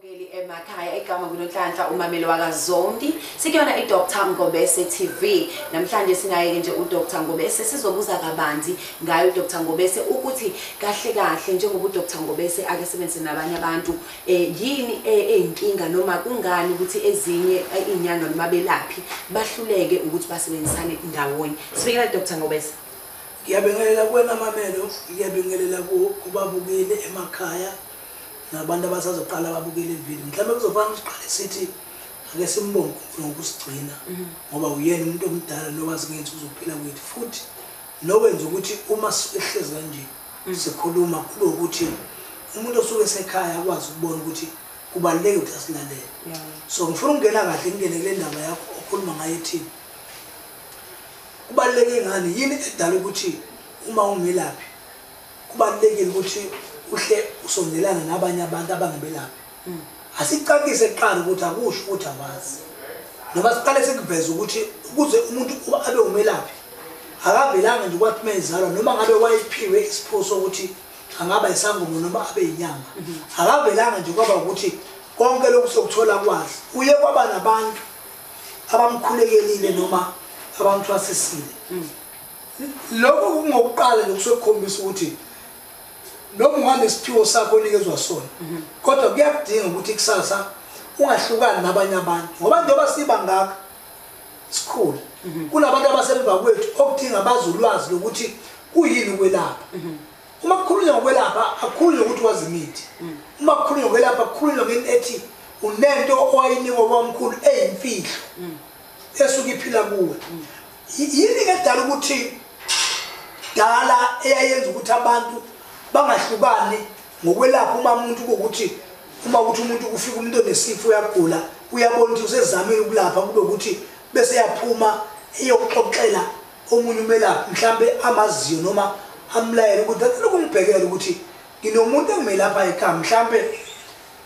Bukeli emakhaya igama kunonhlanhla umameli wakazondi sikuyona idr ngobese tv namhlanje sinaye-ke nje udr ngobese sizobuza kabanzi ngaye udr ngobese ukuthi kahle kahle njengoba udr ngobese ake sebenzise nabanye abantu um yini e-, eyinkinga noma kungani ukuthi ezinye e-, iy'nyanga noma belaphi bahluleke ukuthi basebenzisane ndawonye sibikela dr ngobese ngiyabingelela kuwena mamelo ngiyabingelela kubabukeli emakhaya nabantu abasazoqala babukele ivideo mhlawumbe kuzofanele siqale sithi ake simbonge unkulunkulu ngokusigcina mhm. ngoba uyena umuntu omdala nowazi ngenzi uzophila kwethu futhi nowenza ukuthi uma sihlezi kanje mhm. sikhuluma kube ukuthi umuntu osuke esekhaya akwazi ukubona ukuthi kubaluleke ukuthi asilalele so ngifuna ukungena kahle ngingene kule ndaba yakho okhuluma ngayo ethini kubaluleke ngani yini edala ukuthi uma ungelaphi kubalulekile ukuthi uhle usondelane nabanye abantu abangabelaphi hmm. asicacise kuqala ukuthi akusho ukuthi awazi noma siqale sikuveze ukuthi ukuze umuntu uba abe umelaphi akavelanga nje kwathi mezalwa noma ngabe wayephiwe isipho sokuthi angaba isangoma noma abe yinyanga mhm. akavelanga nje kwaba ukuthi konke lokhu sokuthola kwazi uye kwaba nabantu abamkhulekelile noma abamthwasisile mm. Lokhu kungokuqala nje kusokukhombisa ukuthi noma unganesiphiwo sakho onikezwa sona mhm. kodwa kuyakudinga ukuthi kusasa ungahlukani nabanye abantu ngoba njengoba siba ngaka sikhulu mhm. kunabantu abasemva kwethu okudinga bazi ulwazi lokuthi kuyini ukwelapha mhm. uma kukhulunywa ngokwelapha akukhulunywa ukuthi wazi imithi uma kukhulunywa ngokwelapha akukhulunywa ngento ethi unento owayinikwa kwamkhulu eyimfihlo esuke iphila kuwe Yini ke dala ukuthi dala eyayenza ukuthi abantu bangahlukani ngokwelapha uma umuntu ukuthi uma ukuthi umuntu kufika umuntu onesifo uyagula uyabona ukuthi usezamile ukulapha kube ukuthi bese yaphuma eyokuxoxela omunye umelaphi mhlambe amaziyo noma amlayele ukuthi ngicela ukungibhekela ukuthi nginomuntu engimelapha ekhaya mhlambe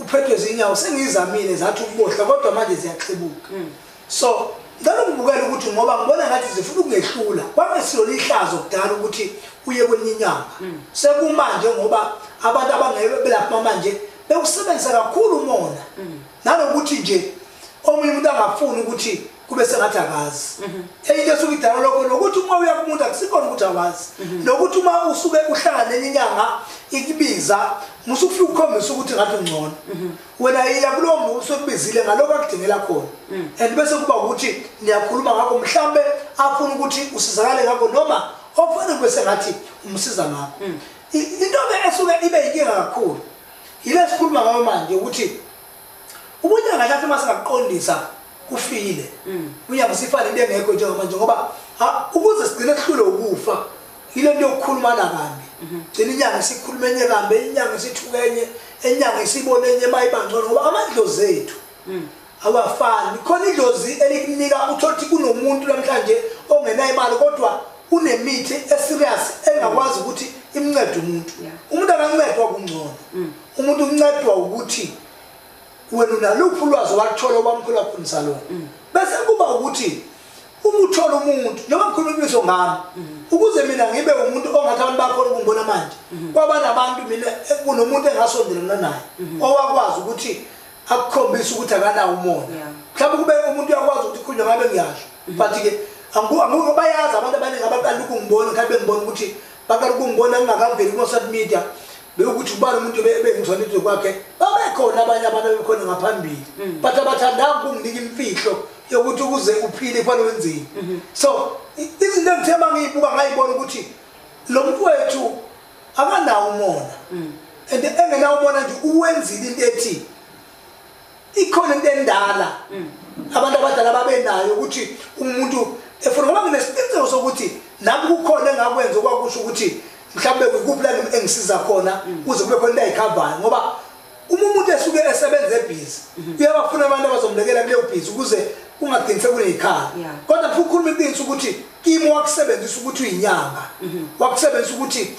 uphethwe zinyawo sengiyizamile zathi ukubohla kodwa manje ziyaxebuka hmm. So ngicela ukubukela ukuthi ngoba ngibona ngathi zifuna ukungehlula kwakungesiyona ihlazo kudala ukuthi uye kwenye inyanga mm. sekumanje ngoba abantu abangeke belapha manje bewusebenzisa kakhulu umona mm. nanokuthi nje omunye umuntu angafuni ukuthi kube sengathi akazi mm-hmm. enye into esuke idala lokho nokuthi uma uya kumuntu akusikhona ukuthi awazi mm-hmm. nokuthi uma usuke uhlangane nenye inyanga ikubiza musufika ukukhombisa ukuthi ngathi ungcono mm-hmm. wena yiya kulowo muntu usokubizile ngalokho akudingela khona mm. and bese kuba ukuthi niyakhuluma ngakho mhlawumbe afuna ukuthi usizakale ngakho noma okufanele kube sengathi umsiza ngakho mm. intobe esuke ibe yinkinga kakhulu yile sikhuluma ngayo manje ukuthi ubunyanga lathi uma singakuqondisa kufile mm. unyanga sifane into engekho njengamanje ngoba ukuze sigcine sihlule ukufa yile nto yokukhulumana kambi gcina inyanga isikhuluma enye kambi inyanga isithuka enye enyanga isibone enye uma ibangcono ngoba amadlozi ethu mm. awafani khona idlozi elikunika utholuthi kunomuntu namhlanje ongenayo imali kodwa unemithi eserious engakwazi mm. ukuthi imncede umuntu umuntu akancedwa kungcono mm. umuntu uncedwa ukuthi wena unaluphi ulwazi waluthola obamkhulu wakho msalona bese kuba ukuthi uma uthola umuntu noma kukhulunyiswa ngami ukuze mina ngibe umuntu ongathi abantu bakhona ukungibona manje kwaba nabantu mina kunomuntu engasondelana naye owakwazi ukuthi akukhombise ukuthi akanawo umona mhlawumbe kube umuntu uyakwazi ukuthi ukhulunywe ngabe ngiyasho but-ke angikho bayazi abantu abaningi abaqala ukungibona mhlawumbe bengibona ukuthi baqala ukungibona ngingakaveli kuma-social media bewukuthi ubani umuntu ebengizona into kwakhe babekhona abanye abantu abebekhona ngaphambili mm. but abathandanga ukunginika imfihlo yokuthi ukuze uphile kufanele wenzeni mm-hmm. so izinto engithe uma ngiyibuka ngayibona ukuthi lo muntu wethu akanawo umona mm. and engenawo umona nje uwenzile into ethi ikhona into endala mm. abantu abadala babenayo ukuthi umuntu efuna ngoba nginesiqiniseko sokuthi nami kukhona engakwenza okwakusho ukuthi mhlawumbe kukuphi la engisiza khona mm. kuze kube khona into ayikhavayo ngoba uma umuntu esuke esebenza ebhizi mm-hmm. uyabafuna abantu abazomlekela kuleyo bhizi ukuze ungagcini sekuneyikhala kodwa futhi ukhuluma iqiniso ukuthi kimi wakusebenzisa ukuthi uyinyanga mm-hmm. wakusebenzisa ukuthi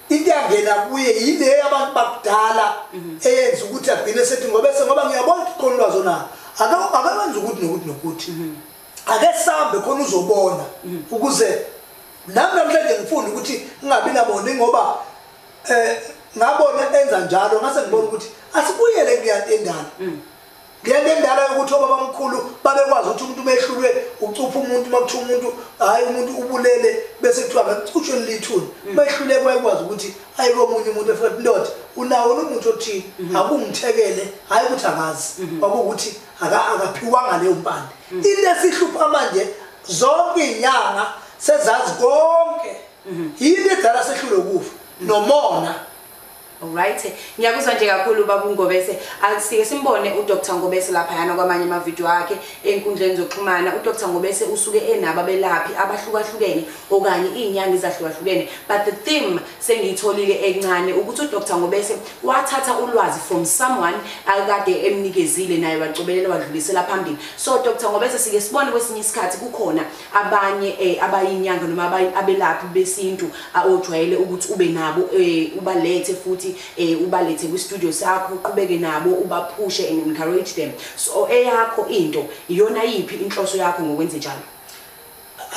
into yangena kuye yile yabantu bakudala mhm. eyenza ukuthi agcine sethi ngoba se ngoba ngiyabona ukuthi khona ulwazi onalo akawenza ukuthi nokuthi nokuthi mhm. ake sambe khona uzobona mhm. ukuze nami namhlanje ngifunda ukuthi ngingabi naboni ngoba um ngabona enza njalo ngase ngibona ukuthi asibuyele kuyantendana Ngento endala yokuthi obabamkhulu babekwazi ukuthi umuntu umehlulwe ucupha umuntu uma kuthiwa umuntu hhayi umuntu ubulele bese kuthiwa ngekucutshwe lilithuni mm. mehluleke wayekwazi ukuthi ayi komunye umuntu efuna indoda unawo nomuntu othile mm-hmm. akungithekele hhayi ukuthi angazi mm-hmm. kwakuwukuthi akaphiwanga leyo mpande mm. into esihlupha manje zonke iy'nyanga sezazi konke mm-hmm. yini edala sehlule ukufa nomona Alright. Ngiyakuzwa nje kakhulu baba uNgobese. Asike simbone uDr Ngobese lapha yana kwamanye ama video akhe enkundleni zokuxhumana. UDr Ngobese usuke enaba belaphi abahlukahlukene okanye izinyanga ezahlukahlukene. But the theme sengiyitholile encane ukuthi uDr Ngobese wathatha ulwazi from someone akade emnikezile naye wacobelela wadlulisela phambili. So Dr Ngobese sike sibone kwesinye isikhathi kukhona abanye eh, abayinyanga noma abelaphi besintu ojwayele ukuthi ube nabo eh, ubalethe futhi eh, ubalethe kwi-studio sakho uqhubeke nabo ubaphushe and encourage them so eyakho into iyona yiphi inhloso yakho ngokwenze njalo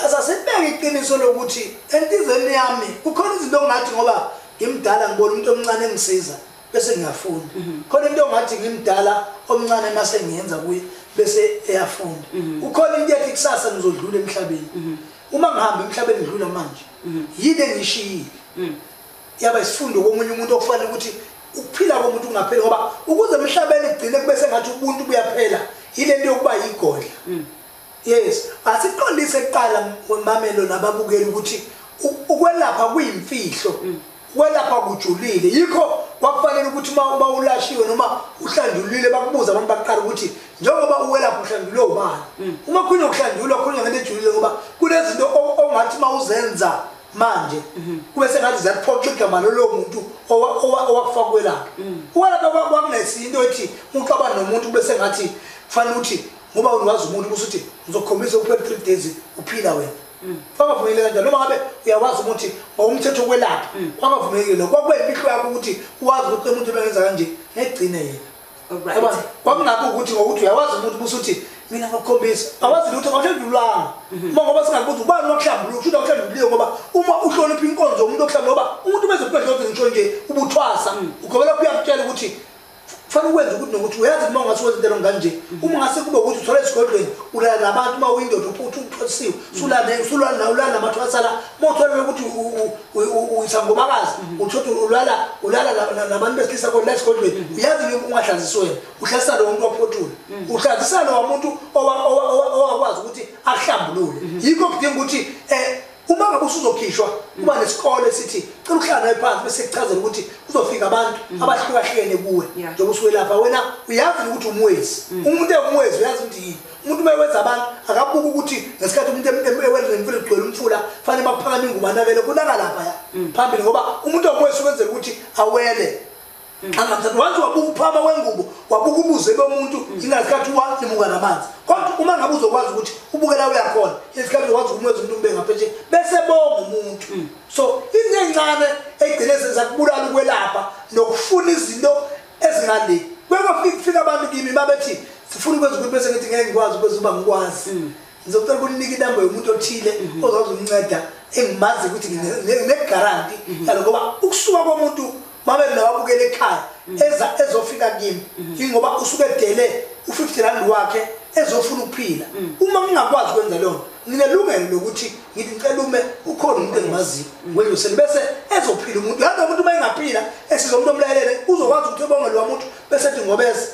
asasibeke iqiniso lokuthi entizeni yami kukhona izinto ongathi ngoba ngimdala ngibona umuntu omncane engisiza bese ngiyafunda mhm. khona into ongathi ngimdala omncane mase ngiyenza kuye bese eyafunda mhm. ukhona into yakhe kusasa ngizodlula emhlabeni mhm. uma ngihamba emhlabeni ngidlula manje yini engishiyile yaba isifundo komunye umuntu okufanele ukuthi ukuphila komuntu kungapheli ngoba ukuze emhlabeni kugcine kube sengathi ubuntu buyaphela yile nto yokuba yigodla yes asiqondise kuqala mamelo nababukeli ukuthi ukwelapha kuyimfihlo Ukwelapha kujulile yikho kwakufanele ukuthi uma uba ulashiwe noma uhlandulile bakubuza abantu baqala ukuthi njengoba uwelapha uhlandulwe ubani mm. uma khunye ukuhlandulwa khunye ngento ejulile ngoba kunezinto ongathi uma uzenza manje mhm. kube sengathi ziyakuphoxa igama lolo muntu owakufaka kwelapha mm. ukwelapha kwakunesinto ethi umuntu aba nomuntu kube sengathi kufanele ukuthi ngoba uwazi umuntu ukuthi ngizokhombisa uphela three days uphila wena Mm. kwakavumeli kanjani noma ngabe uyakwazi ukuthi ngokomthetho wokwelapha mm. kwakavumelekile lokho kwakuwena impihlo yakho ukuthi uwazi ukuthi umuntu ebengenza kanje ngegcine yena kwakungakho ukuthi ngokuthi uyakwazi umuntu busuthi mina ngakukhombisa awazi lutho ngahlandululanga mm-hmm. uma ngoba singakubuza ubani wakuhlambulula kushuthi awuhlanduliwe ngoba uma uhlonipha inkonzo yomuntu okuhlambulula ngoba umuntu ubezokubehlonze ngisho nje ubuthwasa mm. ugobela kuyakutshela ukuthi kufanele ukwenze ukuthi nokuthi uyazi uma ungase wenze into nganje uma ngase kube ukuthi uthola esigodlweni ulala nabantu uma uyindoda uthi uthosiwe usulala namathu asala uma utholela ukuthi uyisangomakazi uthothi ulala ulala nabantu besilisa kodwa esigodlweni uyazi nje ungahlazisi wena uhlazisa lowo muntu waphothula uhlazisa lowa muntu owakwazi ukuthi ahlambulule yikho kudinga ukuthi um uma ngabe usuzokhishwa kuba nesikole esithi cela ukuhlala naye phansi bese kuchazela ukuthi kuzofika abantu mhm. abahlukahlukene kuwe njengoba usuwelapha wena uyazi ukuthi umwezi mhm. umuntu ewumwezi uyazi ukuthi yini umuntu uma ewenza abantu akabuki ukuthi ngesikhathi umuntu ewenremfile kugcwele umfula fanele bakuphakame ingubanabele kunaka lapha ya mhm. phambili ngoba umuntu owumwezi ukwenzela ukuthi awele wathi wabuka uphaba wengubo wabuka ubuze bomuntu ingasikhathi walimuka namanzi kodwa uma ngabe uzokwazi ukuthi ubukela uyakhona isikhathi uzokwazi ukumwenza umuntu ube ngapheshe bese bonga umuntu mm. so into encane egcine senza kubulala ukwelapha nokufuna izinto ezingale kwekufika abantu kimi babethi sifuna ukwenza ukuthi bese ngithi ngeke ngikwazi ukwenza uba ngikwazi mm. ngizocela ukunika inamba yomuntu othile mhm. ozokwazi umnceda engimazi ukuthi nginegaranti mhm. yalo ngoba ukusuka komuntu mabe lawa abukela ekhaya mhm. eza ezofika kimi ingoba usuke edele u-50 rand wakhe ezofuna ukuphila uma ngingakwazi ukwenza leyo nto nginelungelo lokuthi ngithi ngicela ume ukhona umuntu engimaziyo ngweloseni bese ezophila umuntu yadwa umuntu uma engaphila esizomuntu omlalele uzokwazi ukuthi ebongelwa umuntu bese ethi ngobeza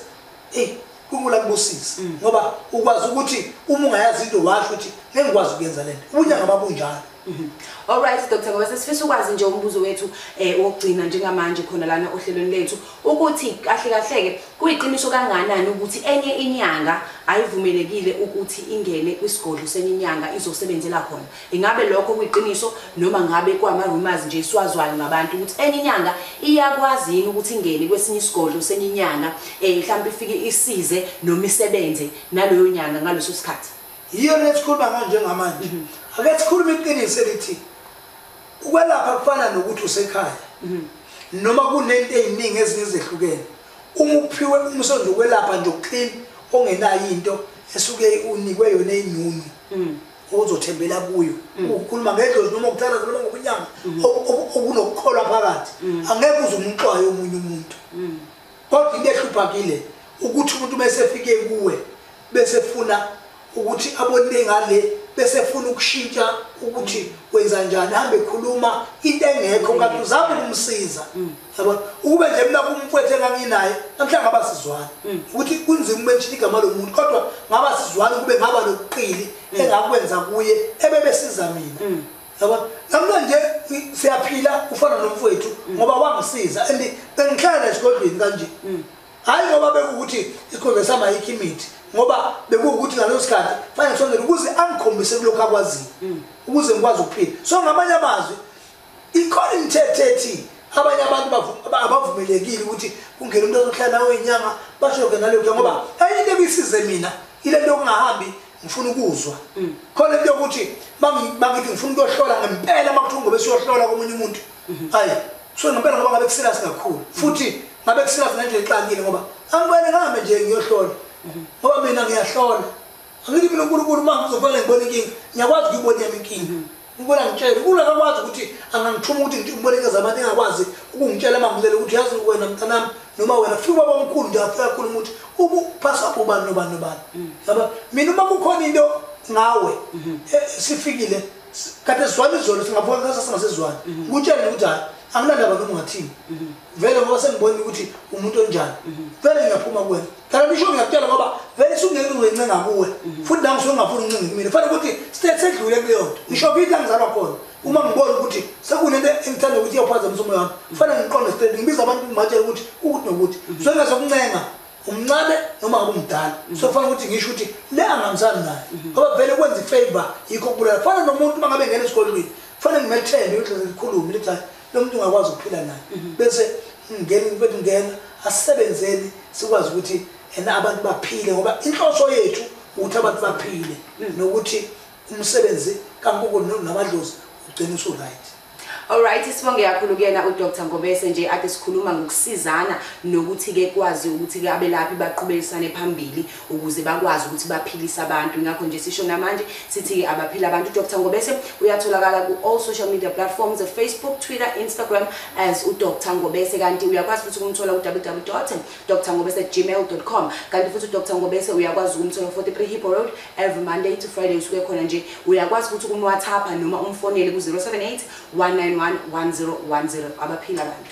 eyi unkulunkulu akubusise mm. ngoba ukwazi ukuthi uma ungayazi into washo ukuthi ngeke ngikwazi ukuyenza le nto ubunyanga babunjalo mm-hmm. Alright Dr. Ngoba sesifisa ukwazi nje umbuzo wethu eh wokugcina njengamanje khona lana ohlelweni lethu ukuthi kahle kahle ke kuyiqiniso kanganani ukuthi enye inyanga ayivumelekile ukuthi ingene kwisigodlo senye inyanga izosebenzela khona Ingabe lokho kuyiqiniso noma ngabe kwama rumors nje siwazwayo ngabantu ukuthi enye inyanga iyakwazi yini ukuthi ingene kwesinye isigodlo senye inyanga eh mhlawumbe ifike isize noma isebenze naleyo nyanga ngaleso sikhathi. Yiyo lesikhuluma ngayo njengamanje. Mhm. Ake sikhulume iqiniso elithi ukwelapha kufana nokuthi usekhaya. Mhm. Noma kunento eziningi ezinye ezehlukene. Uma uphiwe umsebenzi wokwelapha nje ukuclean ongenayo into esuke unikwe yona enyunu. Mhm. ozothembela kuyo mm. ukhuluma ngedlozi noma ukuthatha ukhuluma ngobunyama mm. okunokukholwa phakathi mm. angeke uze umxwaye omunye umuntu kodwa into ehluphakile ukuthi umuntu mesefike kuwe bese funa ukuthi abonile ngale bese funa ukushintsha ukuthi wenza njani hambe khuluma into engekho kanti uzama ukumsiza yabona ukube nje mina kumfwethu enganginaye namhlanje ngaba sizwana mm. ukuthi kunzima ube ngishini igama lomuntu kodwa ngaba sizwana ukube ngaba nokuqili mm. engakwenza kuye ebebesiza mina mm. yabona namhlanje siyaphila ufana nomfwethu ngoba wangisiza and bengihlala esigodlweni kanje hhayi ngoba bekuwukuthi isigodlweni sami ayikho imithi ngoba bekuwukuthi ngaleso sikhathi fanele ngisondele ukuze angikhombise kulokhu akwaziyo ukuze ngikwazi ukuphila so ngamanye amazwi Ikhona imithetho ethi abanye abantu abavumelekile ukuthi kungena umuntu ozohlala nawe inyanga bashoke nalokho ngoba enye into ebisize mina ile nto yokungahambi ngifuna ukuzwa mm. khona into yokuthi bangithi ngifuna ukuyohlola ngempela uma kuthiwa ngobe siyohlola komunye umuntu mm-hmm. ayi so ngempela ngoba ngabe kusilasi kakhulu mm-hmm. futhi ngabe kusilasi ngendlela exakile ngoba angibele ngihambe nje ngiyohlola mm-hmm. ngoba mina ngiyahlola angithi mina unkulunkulu uma ngizofanele ngibone inkinga ngiyakwazi ukuyibona yami inkinga Ngibona ngitshela ukula kakwazi ukuthi angangithuma ukuthi ngithi ubolekeza abantu engakwazi ukungitshela amamulele ukuthi yazi wena mntanami noma wena fika ubaba omkhulu nje afika akhuluma ukuthi ubuphasa ubani nobani nobani mm. yaba mina uma kukhona into ngawe mm-hmm. eh, sifikile kade sizwana izolo singaphona sasingazizwani mm-hmm. ngutshele ukuthi hayi anginandaba noma ungathini mm-hmm. vele ngoba sengibona ukuthi umuntu onjani mhm. vele ngiyaphuma kuwena phela nisho ngiyakutshela ngoba vele sungeke uzencenga kuwe mhm. futhi nami suke ngingafuni uncinge kumina fanele ukuthi state sedlule kuleyo nto mhm. ngisho kithi angizalwa khona uma ngibona ukuthi sekunento engithanda ukuthi iyophazamisa umoya wami kufanele ngiqonde state ngibiza abantu ngibatshela ukuthi ukuthi nokuthi sokungazokuncenga umncane noma ngabe umdala so kufanele ukuthi ngisho ukuthi le angihambisani naye ngoba vele kwenza ifavor yikho kubulala kufana nomuntu uma ngabe ngena esikolweni kufanele ngimethembe ukuthi ngikhulume lithi lo muntu ungakwazi ukuphila naye mhm. bese ngeni mfethu ngena asisebenzeni sikwazi ukuthi ena abantu baphile ngoba inhloso yethu ukuthi abantu baphile mhm. nokuthi umsebenzi kankoko namadlozi ugcina usu-right Alright sibonge kakhulu kuyena uDr Ngobese nje ade sikhuluma ngokusizana nokuthi ke kwazi ukuthi ke abelaphi baqhubekisane phambili ukuze bakwazi ukuthi baphilise abantu ngakho nje sisho namanje sithi abaphila abantu udr ngobese uyatholakala ku-all social media platforms facebook twitter instagram as udr ngobese kanti uyakwazi futhi ukumthola ku-ww dr ngobese gmail com kanti futhi udr ngobese uyakwazi ukumthola ku-43 hippo road every monday to friday usuke khona nje uyakwazi futhi ukumwathapha noma umfonele ku-078 191 1010 abaphila abantu